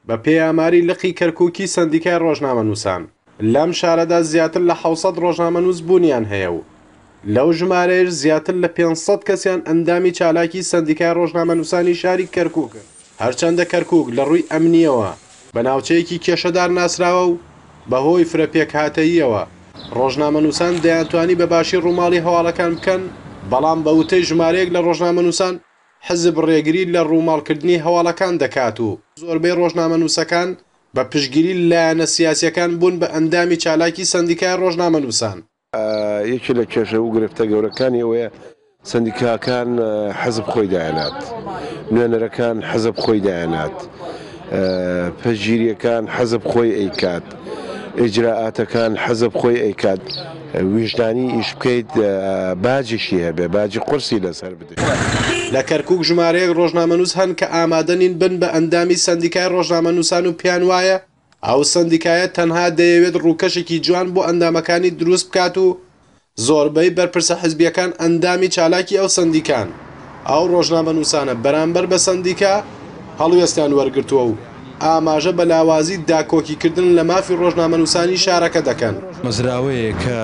بە پێی ئاماری لقی کەرکووکی سەندیکای ڕۆژنامەنووسان، لەم شارەدا زیاتر لە حەوت سەد ڕۆژنامەنووس بوونیان هەیە و لەو ژمارەیەش زیاتر لە پێنج سەد کەسیان ئەندامی چالاکی سەندیکای ڕۆژنامەنووسانی شاری کەرکووکن. هەرچەندە کەرکووک لە ڕووی ئەمنییەوە بە ناوچەیەکی کێشەدار ناسراوە و بە هۆی فرە پێکهاتەییەوە ڕۆژنامەنووسان دەیانتوانی بە باشی ڕووماڵی هەواڵەکان بکەن، بەڵام بە وتەی ژمارەیەک لە ڕۆژنامەنووسان، حزب ڕێگری لە ڕووماڵکردنی هەواڵەکان دەکات و زۆربەی ڕۆژنامەنووسەکان بە پشتگیری لایەنە سیاسییەکان بوون بە ئەندامی چالاکی سەندیکای ڕۆژنامەنووسان. یەکێ لە کێشە وگرفتە گەورەکانی ئەوەیە سەندیکاکان حزب خۆی دایەنات، نوێنەرەکان حزب خۆی دایەنات، پشتگیرییەکان حزب خۆی ئەیکات، ئیجرائاتەکان حزب خۆی ئەیکات، ویژدانی ئیش بکەیت باجیشی هەبێ، باجی قورسی لەسەر بدرێ. لە کەرکووک ژمارەیەک ڕۆژنامەنووس هەن کە ئامادە نین بن بە ئەندامی سەندیکای ڕۆژنامەنووسان و پێیان وایە ئەو سەندیکایە تەنها دەیەوێت ڕووکەشێکی جوان بۆ ئەندامەکانی دروست بکات و زۆربەی بەرپرسە حزبییەکان ئەندامی چالاکی ئەو سەندیکان. ئەو ڕۆژنامەنووسانە بەرامبەر بە سەندیکا هەڵوێستیان وەرگرتووە و ئاماژە بە لاوازی داکۆکیکردن لە مافی ڕۆژنامەنووسانی شارەکە دەکەن. مەزراوەیەک کە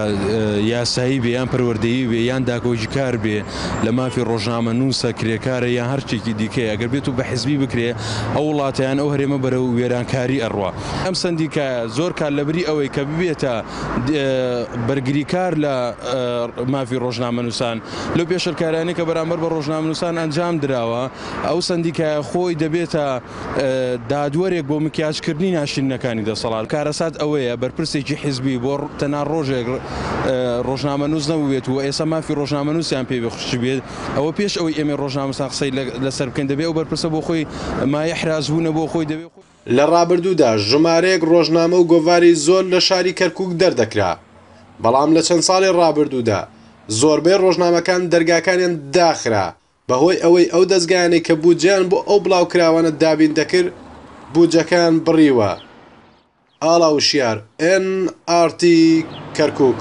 یاسایی بێ یان پەروەردەیی بێ یان داکۆکیکار بێ لە مافی ڕۆژنامەنووسە، کرێکارە یان هەر شتێکی دیکەیە، ئەگەر بێتو بە حزبی بکرێ، ئەو وڵاتە یان ئەو هەرێمە بەرەو وێرانکاری ئەڕوا. ئەم سەندیکایە زۆر کات لەبری ئەوەی کە ببێتە بەرگریکار لە مافی ڕۆژنامەنووسان، لەو پێشێلکاریانەی کە بەرامبەر بە ڕۆژنامەنووسان ئەنجام دراوە، ئەو سەندیکایە خۆی دەبێتە. دادوەرێک بۆ مکیاجکردنی ناشرینەکانی دەسەڵات، کارەسات ئەوەیە بەرپرسێکی حیزبی بۆ تەنها ڕۆژێک ڕۆژنامەنووس نەبووبێت و ئێستا مافی ڕۆژنامەنووسیان پێ بخشیبێت، ئەوە پێش ئەوەی ئێمەی ڕۆژنامەنووسان قسەی لەسەر بکەین دەبێت ئەو بەرپرسە بۆ خۆی مایەحرازبوونە بۆ خۆی. لە ڕابردوودا ژمارەیەک ڕۆژنامە و گۆڤاری زۆر لە شاری کەرکووک دەردەکرا، بەڵام لە چەند ساڵی ڕابردوودا زۆربەی ڕۆژنامەکان دەرگاکانیان داخرا بەهۆی ئەوەی ئەو دەزگایانەی کە بودجەیان بۆ ئەو بڵاوکراوانە دابین دەکرد بودجەکەیان بڕیوە، ئاڵا وشیار، ئێن ئاڕتی کەرکوک.